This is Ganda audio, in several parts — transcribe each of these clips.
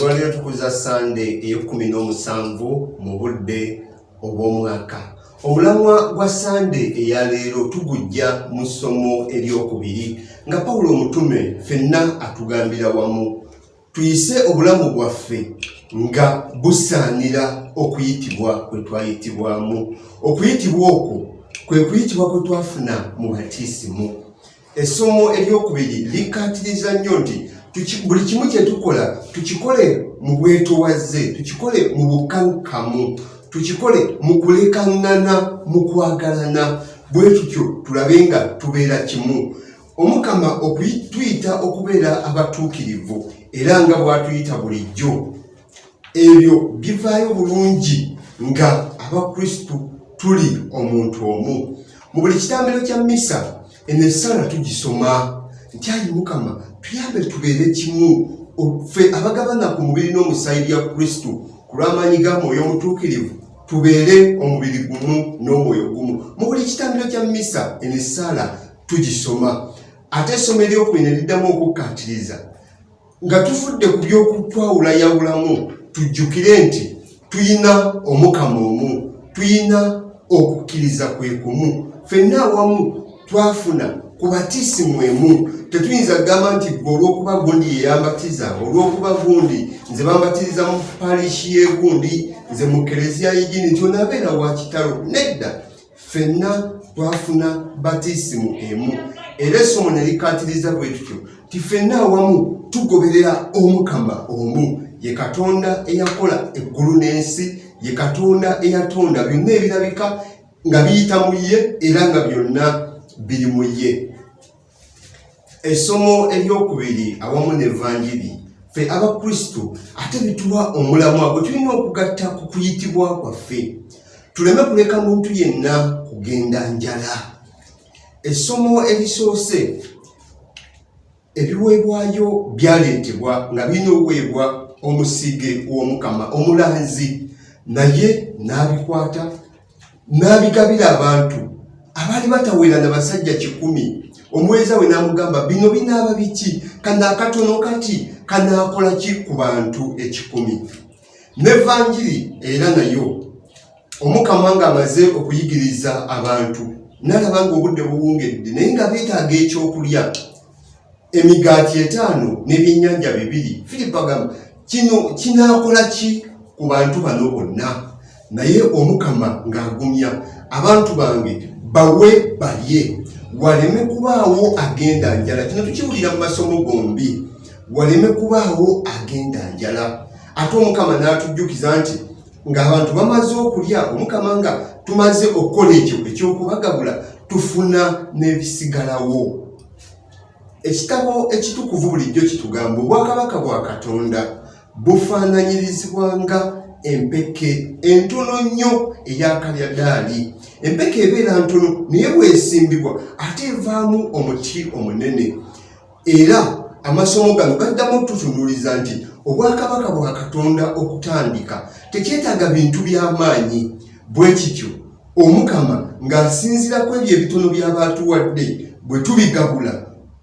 olwaleero tukuza sande eyekumi n'omusanvu mu budde obw'omwaka omulamwa gwa sande eyaleero tugujja mu ssomo eryokubiri nga pawulo omutume fenna atugambira wamu tuyise obulamu bwaffe nga busaanira okuyitibwa kwe twayitibwamu okuyitibwa okwo kwe kuyitibwa kwe twafuna mu batisimu essomo eryokubiri likkaatiriza nnyo nti buli kimu kye tukola tukikole mu bwetowaze tukikole mu bukkankamu tukikole mu kulekaŋŋana mu kwagalana bwe tutyo tulabe nga tubeera kimu omukama okutuyita okubeera abatuukirivu era nga bwatuyita bulijjo ebyo bivaayo bulungi nga abakristu tuli omuntu omu mu buli kitambiro kya misa eno esaala tugisoma nti ayi mukama tuyambe tubeere kimu ffe abagabana ku mubiri n'omusaayi bya kristu ku lw'amaanyi ga mwoyo omutuukirivu tubeere omubiri gumu n'omwoyo gumu mu buli kitambiro kya misa eno esaala tugisoma ate essomo eryokubina eriddamu okukkaatiriza nga tufudde ku by'okutwawulayawulamu tujjukire nti tuyina omukama omu tuyina okukkiriza kwe kumu fenna awamu twafuna ku batiisi mwemu tetuyinza kugamba nti gwe olwokuba gundi yeyambatiza olwokuba gundi nze bambatiriza mu parishi yegundi nze mu kereziya yigini nti onabeera wakitalo nedda ffenna twafuna batisimu emu era essomo ne likkaatiriza bwe tutyo ti ffenna awamu tugoberera omukama omu ye katonda eyakola eggulu n'ensi ye katonda eyatonda byonna ebirabika nga biyita mu ye era nga byonna biri mu ye Essomo eryokubiri awamu n'Evanjiri ffe Abakristo ate bituwa omulamwa gwe tulina okugatta ku kuyitibwa kwaffe tuleme kuleka muntu yenna kugenda njala. Essomo erisoose ebiweebwayo byaleetebwa nga birina okuweebwa omusige w'Omukama omulanzi naye n'abikwata n'abigabira abantu abaali batawera na basajja kikumi omuweereza we n'amugamba bino binaaba biki kano akatono kati kanaakola ki ku bantu ekikumi n'evanjiri era nayo omukama ng'amaze okuyigiriza abantu nalaba ng'obudde buwungedde naye nga beetaaga ekyokulya emigaati etaano n'ebyennyanja bibiri firipo agamba kino kinaakola ki ku bantu bano bonna naye omukama ng'agumya abantu bange bawe balye waleme kubaawo agenda njala kino tukiwulira mu masomo gombi waleme kubaawo agenda njala ate omukama n'atujjukiza nti ng'abantu bamaze okulya omukama nga tumaze okukola ekyo ekyokubagabula tufuna n'ebisigalawo ekitabo ekitukuvu bulijjo kitugamba obwakabaka bwa katonda bufaananyirizibwa nga empeke entono nnyo eyakalyadaali empeke ebeera ntono naye bwesimbibwa ate evaamu omuti omunene era amasomo gano gaddamu okututunuliza nti obwakabaka bwa katonda okutandika tekyetaaga bintu by'amaanyi bwe kityo omukama ng'asinzira ku ebyo ebitono by'aba atuwadde bwe tubigabula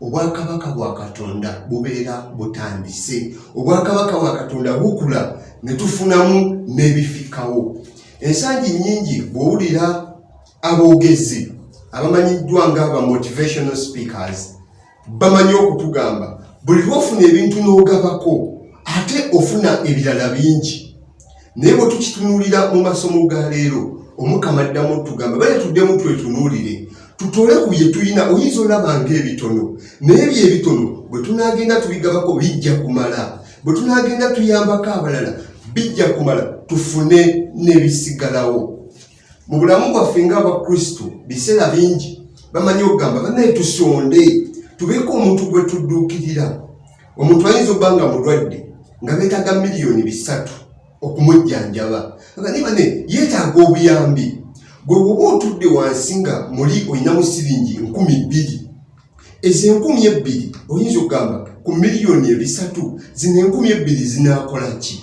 obwakabaka bwa katonda bubeera butandise obwakabaka bwa katonda bukula ne tufunamu n'ebifikawo ensangi nnyingi bw'owulira aboogezi abamanyiddwa nga aba motivational speakers bamanyi okutugamba buli lwofuna ebintu n'ogabako ate ofuna ebirala bingi naye bwe tukitunuulira mu masomo ga leero omukama addamu otugamba bale tuddemu twetunuulire tutole ku bye tulina oyinza olaba ngaebitono naye byebitono bwe tunaagenda tubigabako bijja kumala bwe tunaagenda tuyambako abalala bijja kumala tufune n'ebisigalawo mu bulamu bwaffe ng'abakristo biseera bingi bamanyi okugamba banaye tusonde tubeeko omuntu gwe tudduukirira omuntu ayinza okuba nga mulwadde nga beetaaga miliyoni bisatu okumujjanjaba aga naye bane yeetaaga obuyambi gwe woba otudde wansi nga muli olinamu siringi nkumi bbiri ezo enkumi ebbiri oyinza okugamba ku miliyoni ebisatu zino enkumi ebbiri zinakola ki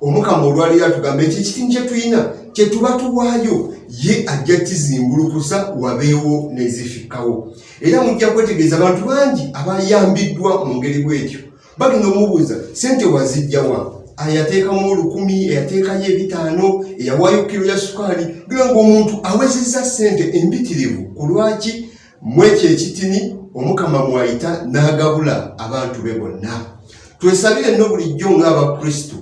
omukama olwaleero atugamba ekyo ekitimu kyetulina kyetuba tuwaayo ye ajja kizimbulukusa wabeewo nezifikkawo era mujja kwetegeeza abantu bangi abayambiddwa mu ngeri bwetyo bagenda omubuuza sente wazijjawa ayateekamu olukumi eyateekayo ebitaano eyawaayo kiro ya sukaali gera ngaomuntu awezezza sente embitirivu ku lwaki mwekyo ekitini omukama mwayita n'agabula abantu be bonna twesabire nno bulijjo ng'abakristu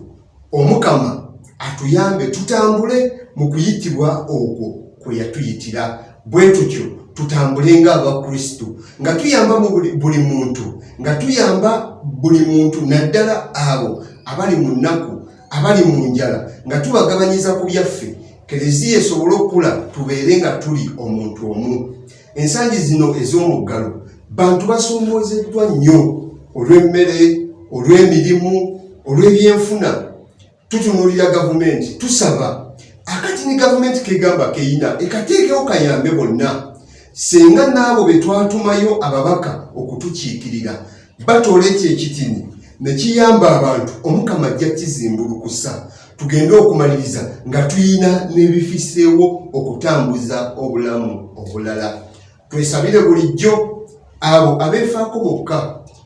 omukama atuyambe tutambule mu kuyitibwa okwo kwe yatuyitira bwe tutyo tutambule ng'abakristu nga tuyamba buli muntu nga tuyamba buli muntu naddala abo abali mu nnaku abali mu njala nga tubagabanyiza ku byaffe Kereziya esobole okukula tubeere nga tuli omuntu omu. Ensangi zino ez'omuggalo bantu basoomoozeddwa nnyo olw'emmere, olw'emirimu, olw'ebyenfuna. Tutunuulira gavumenti tusaba akati ne gavumenti kegamba keyina ekateekewo kayambe bonna singa n'abo be twatumayo ababaka okutukiikirira batoola ekyo ekitini ne kiyamba abantu omukama ajja kizimbulukusa tugende okumaliriza nga tulina n'ebifiseewo okutambuza obulamu obulala twesabire bulijjo abo abeefaako bokka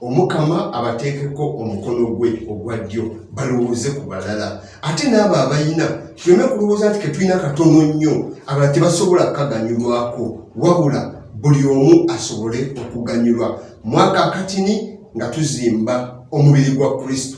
omukama abateekeko omukono gwe ogwa ddyo balowooze ku balala ate n'abo abalina tuleme kulowooza nti ketulina katono nnyo abala tebasobola kukaganyulwako wabula buli omu asobole okuganyulwa mwaka akatini nga tuzimba omubiri gwa kristo